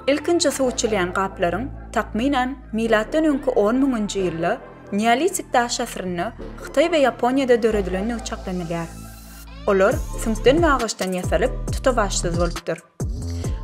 Ilkinji suw içilýän gaplaryň, takmynan, milatdan öňki 10 müňünji ýylda Neolitik daş asyrynda Hytaý we Ýaponiýada döredilendigi çaklanylýar. Olar süňkden we agaçdan ýasalyp, tutawaçsyz bolupdyr.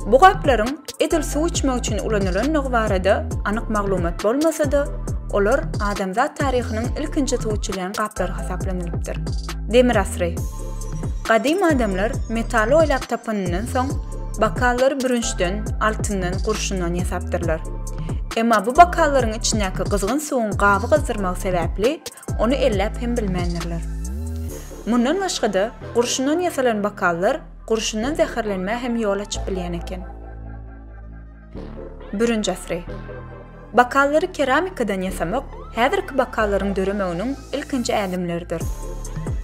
Bu gaplaryň edil suw içmek üçin ulanylandygy barada anyk maglumat bolmasa-da, olar adamzat taryhynyň ilkinji suw içilýän gaplary hasaplanylypdyr. Demir asyry. Gadym adamlar metaly oýlap tapanyndan soň, bakallary bürünçden, altyndan, gurşundan ýasapdyrlar. Emma bu bakallaryň içindäki gyzgyn suwuň gaby gyzdyrmagy sebäpli, ony elläp hem bilmändirler. Mundan başga-da, gurşundan ýasalan bakallar, Gurşundan zäherlenmä hem ýol açyp bilýän eken. Bürünç asyry. Bakallary keramikadan ýasamak häzirki bakallaryň döremeginiň ilkinji ädimleridir.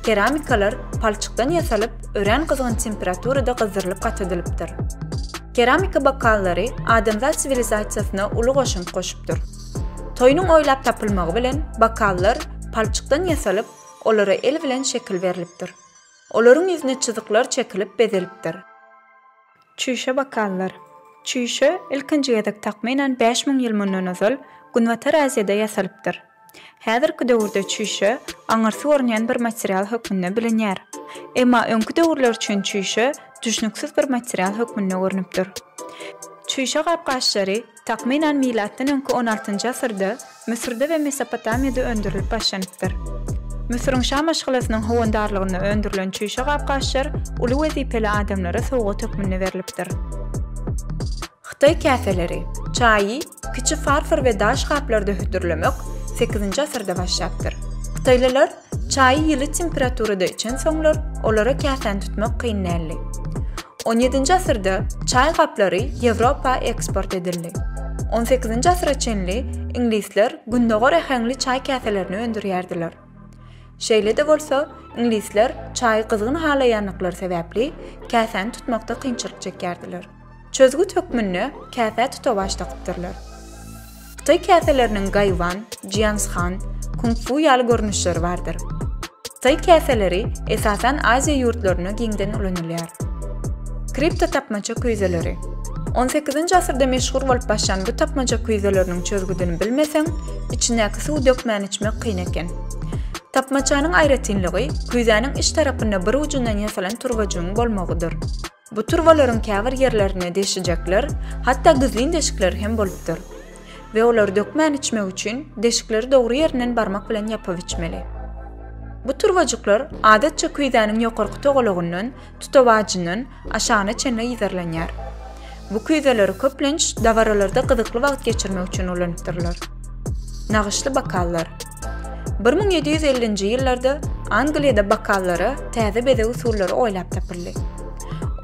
Keramikalar palçykdan ýasalyp, örän gyzgyn temperaturada gyzdyrylyp gatydylypdyr. Keramika bakallary adamzat siwilizasiýasyna uly goşant goşupdyr. Toýnuň oýlap tapylmagy bilen bakallar palçykdan ýasalyp, olara el bilen şekil berlipdir. Olaryň ýüzüne çyzyklar çekilip bezelipdir. Çüýşe bokallar. Çüýşe ilkinji gezek takmynan bäş müň ýyl mundan ozal Günbatar Aziýada ýasalypdyr. Häzirki döwürde çüýşe aňyrsy görünýän bir material hökmünde bilinýär. Emma öňki döwürler üçin çüýşe düşnüksiz bir material hökmünde görnüpdir. Çüýşe gap-gaşlary Takmynan milatdan öňki on altynjy asyrda Müsürde we Mesopotamiýada öndürilip başlanypdyr. Müsüriň şa maşgalasynyň howandarlygynda öndürilen çüýşe gap-gaçlar uly wezipeli adamlara sowgat hökmünde berlipdir. Hytaý käseleri, çaýy kiçi farfor we daş gaplarda hödürlemek sekizinji asyrda başlapdyr. Hytaýlylar Çaýy ýyly temperaturada içen soňlar, olara käsäni tutmak kyn däldi. On ýedinji asyrda çaý gaplary Ýewropa eksport edildi. On sekizinji asyra çenli iňlisler gündogar äheňli çaý käselerini öndürýärdiler. Şeýle-de bolsa, iňlisler çaýy gyzgyn halaýandyklary sebäpli, käsäni tutmakda kynçylyk çekýärdiler. Çözgüt hökmünde käsä tutawaç dakypdyrlar. Hytaý käseleriniň gaýwan, jianshan, kung-fu ýaly görnüşleri bardyr. Hytaý käseleri esasan Aziýa ýurtlarynda giňden ulanylýar. Kriptotapmaça küýzeleri. On sekizinji asyrda meşhur bolup başlan bu tapmaça küýzeleriniň çözgüdini bilmeseň, içindäki suwy dökmän içmek kyn eken. Tapmaçanyň aýratynlygy küýzäniň iç tarapynda bir ujundan ýasalan turbajygyň bolmagydyr. Bu turbalaryň käbir ýerlerine deşijekler, hatda gizlin deşikleri hem bolupdyr. We olary dökmän içmek üçin deşikleri dogry ýerinden barmak bilen ýapyp içmeli. Bu turbajyklar adatça küýzäniň ýokarky togalagyndan, tutawajyndan, aşagyna çenli yzarlanýar. Bu küýzeleri köplenç dabaralarda gyzykly wagt geçirmek üçin ulanypdyrlar. Nagyşly bokallar. Bir müň ýedi ýüz ellinji ýyllarda Angliýada bokallara täze bezeg usullary oýlap tapyldy.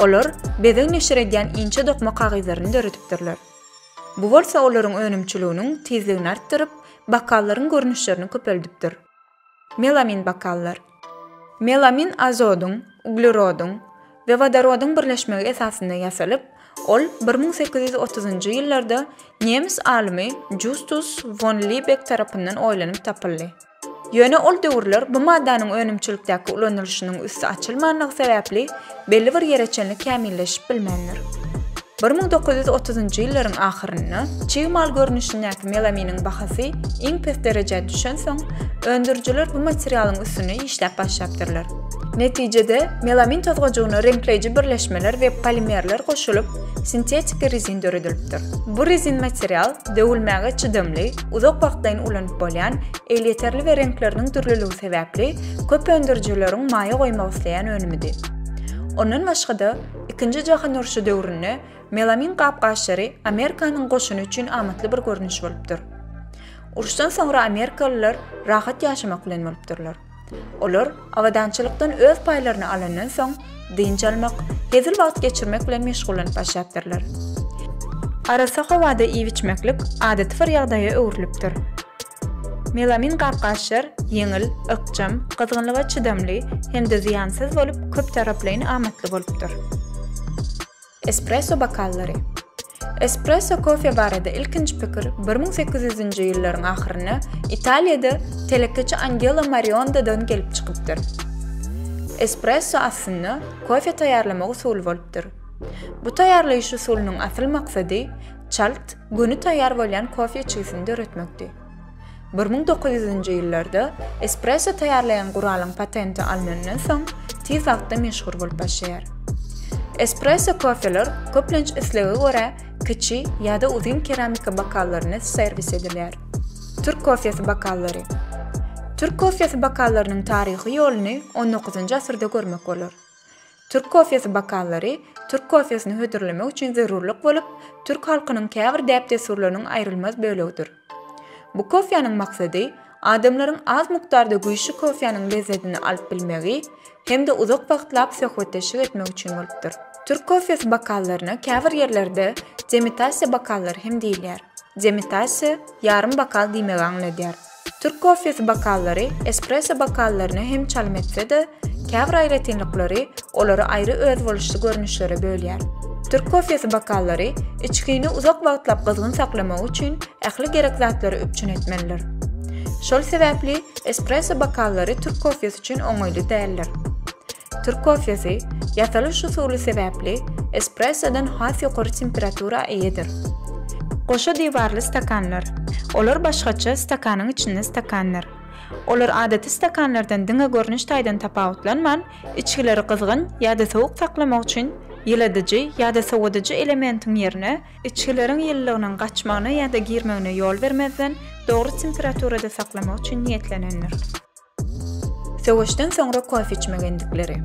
Olar bezeg neşir edýän inçe dokma kagyzlaryny döredipdirler. Bu bolsa olaryň önümçiliginiň tizligini artdyryp, bokallaryň görnüşlerini köpeldipdir. Melamin bokallar. Melamin azodyň, uglerodyň we wodorodyň birleşmegi esasynda ýasalyp, ol bir müň sekiz ýüz otuzynjy ýyllarda nemes alymy Justus won Libek tarapyndan oýlanyp tapyldy. Ýöne ol döwürler bu maddanyň önümçilikdäki ulanylyşynyň üsti açylmandygy sebäpli, belli bir ýere çenli kämilleşip bilmändir. Bir müň dokuz ýüz otuzynjy ýyllaryň ahyrynda çig mal görnüşindäki melaminiň bahasy iň pes derejä düşensoň, öndürijiler bu materialyň üstünde işläp başlapdyrlar. Netijede, melamin tozgajygyna reňkleýji birleşmeler we polimerler goşulyp, sintetiki rezin döredilipdir. Bu rezin material döwülmäge çydamly, uzak wagtlaýyn ulanyp bolýan Elýeterli we reňkleriniň dürlüligi sebäpli köp öndürijileriň maýa goýmak isleýän önümidi. Ondan başga-da, Ikinji jahan urşy döwründe melamin gap-gaçlary Amerikanyň goşuny üçin amatly bir görnüş bolupdyr. Urşdan soňra amerikalylar rahat ýaşamak bilen bolupdyrlar. Olar abadançylykdan öz paýlaryny alandan soň, dynç almak, hezil wagt geçirmek bilen meşgullanyp başlapdyrlar. Arassa howada iýip-içmeklik adaty bir ýagdaýa öwrülipdir. Melamin gap-gaçjar, ýeňil, ykjam, gyzgynlyga çydamly hem-de zyýansyz bolup köptaraplaýyn amatly bolupdyr. Espresso bokallary. Espresso kofe barada ilkinji pikir bir müň sekiz ýüzünji ýyllaryň ahyrynda Italiýada telekeçi Angelo Mariondadan gelip çykypdyr. Espresso aslynda kofe taýýarlamak usuly bolupdyr. Bu taýýarlaýyş usulynyň asyl maksady çalt, göni taýýar bolýan kofe içgisini döretmekdi. Bir müň dokuz ýüzünji ýyllarda espresso taýýarlaýan guralyň patenti alnandan soň, tiz wagtda meşhur bolup başlaýar. Espresso kofeler köplenç islege görä kiçi ýa-da uzyn keramika bokallarynda serwis edilýär. Türk kofesi bokallary. Türk kofesi bokallarynyň taryhy ýoluny on dokuzynjy asyrda görmek bolar. Türk kofesi bokallary türk kofesini hödürlemek üçin zerurlyk bolup, türk halkynyň käbir däp-dessurlarynyň aýrylmaz bölegidir. Bu kofäniň maksady adamlaryň az mukdarda güýçli kofäniň lezzetini alyp bilmegi hem-de uzak wagtlap söhbetdeşlik etmek üçin bolupdyr. Türk kofesi bokallaryna käbir ýerlerde demitasiýa bokallary hem diýilýär. Demitasiýa, ýarym bokal diýmegi aňladýar. Türk kofesi bokallary espresso bokallaryna hem çalym etse-de, käbir aýratynlyklary olary aýry özboluşly görnüşlere bölýär. Türk kofesi bokallary içgini uzak wagtlap gyzgyn saklamagy üçin ähli gerek zatlary üpjün etmelidir. Şol sebäpli espresso bokallary türk kofesi üçin oňaýly däldir. Türk kofesi, ýasalyş usuly sebäpli, espressodan has ýokary temperatura eýedir. Goşa diwarly stakanlar. Olar başgaça stakanyň içinde stakandyr. Olar adaty stakanlardan diňe görnüş taýdan tapawutlanman, içgileri gyzgyn ýa-da sowuk saklamak üçin ýyladyjy ýa-da sowadyjy elementiň ýerine, içgileriň ýylylygynyň gaçmagyna ýa-da girmegine ýol bermezden, dogry temperaturada saklamak üçin niýetlenendir. Söweşden soňra kofe içmek endikleri.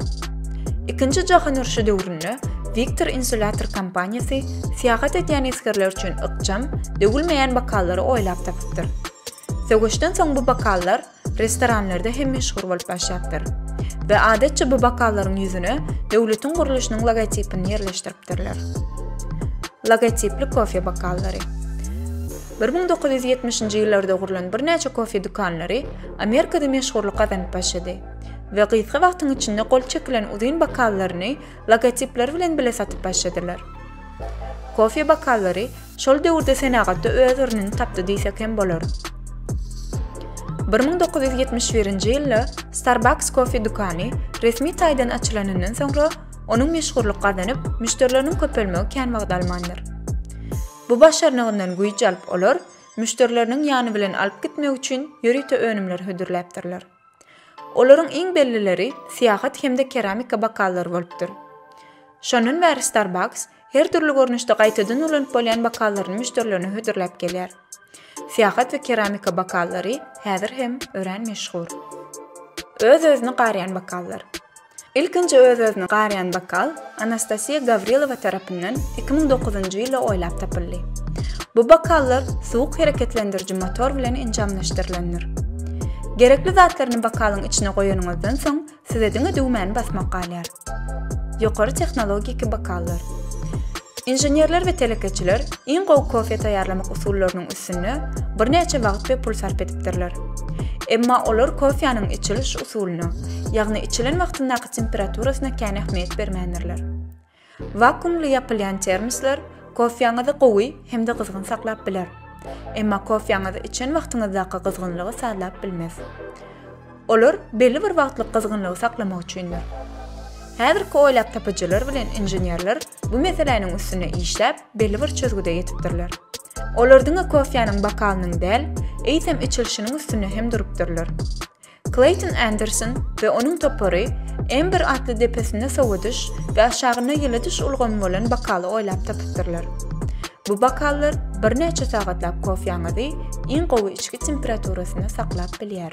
Ikinji jahan urşy döwründe Victor Insulator kompaniýasy syýahat edýän esgerler üçin ykjam, döwülmeýän bokallary oýlap tapypdyr. Söweşden soň bu bokallar restoranlarda hem meşhur bolup başlapdyr we adatça bu bokallaryň ýüzüne döwletiň gurluşynyň logotipini ýerleşdiripdirler. Logotipli kofe bokallary. Bir müň dokuz ýüz ýetmişinji ýyllarda gurlan birnäçe kofe dükanlary Amerikada meşhurlyk gazanyp başlady we gysga wagtyň içinde gol çekilen uzyn bokallaryny logotipleri bilen bile satyp başladylar. Kofe bokallary şol döwürde senagatda öz ornuny tapdy diýsek hem bolar. Bir müň dokuz ýüz ýetmiş birinji ýylda Starbucks kofe dükany resmi taýdan açylanyndan soňra, onuň meşhurlyk gazanyp, müşderileriniň köpelmegi kän wagt almandyr. Bu başarnygyndan güýç alyp olar müşderileriniň ýany bilen alyp gitmek üçin ýörite önümler hödürläpdirler. Olaryň iň bellileri syýahat hem-de keramika bokallar bolupdyr. Şondan bäri Starbucks her dürli görnüşde gaýtadan ulanyp bolýan bokallaryny müşderilerine hödürläp gelýär. Syýahat we keramika bokallary häzir hem örän meşhur. Öz-özüni garýan bokallar. Ilkinji öz-özüni garýan bokal Anastasiýa Gawrilowa tarapyndan iki müň dokuzynjy ýylda oýlap tapyldy. Bu bokallar suwuk hereketlendiriji motor bilen enjamlaşdyrylandyr. Gerekli zatlaryny bokalyň içine goýanyňyzdan soň size diňe düwmäni basmak galýar. Ýokary tehnologiki bokallar. Inženerler we telekeçiler iň gowy kofe taýýarlamak usullarynyň üstünde birnäçe wagt we pul sarp edipdirler. Emma olar kofäniň içiliş usulyna, ýagny içilen wagtyndaky temperaturasyna kän ähmiýet bermändirler. Wakuumly ýapylýan termoslar kofäňizi gowy hem-de gyzgyn saklap biler. Emma kofäňizi içen wagtyňyzdaky gyzgynlygy sazlap bilmez. Olar belli bir wagtlyk gyzgynlygy saklamak üçindir. Häzirki oýlap tapyjylar bilen inženerler bu meseläniň üstünde işläp, belli bir çözgüde ýetipdirler. Olar diňe kofýanyň bokalynyň däl, eýsem içilişiniň üstünde hem durupdyrlar. Kleýton Anderson we onuň topary Ember atly depesinde sowadyş we aşagynda ýyladyş ulgamy bolan bokaly oýlap tapypdyrlar. Bu bokallar birnäçe sagatlap kofýaňyzy iň gowy içgi temperaturasynda saklap bilýär.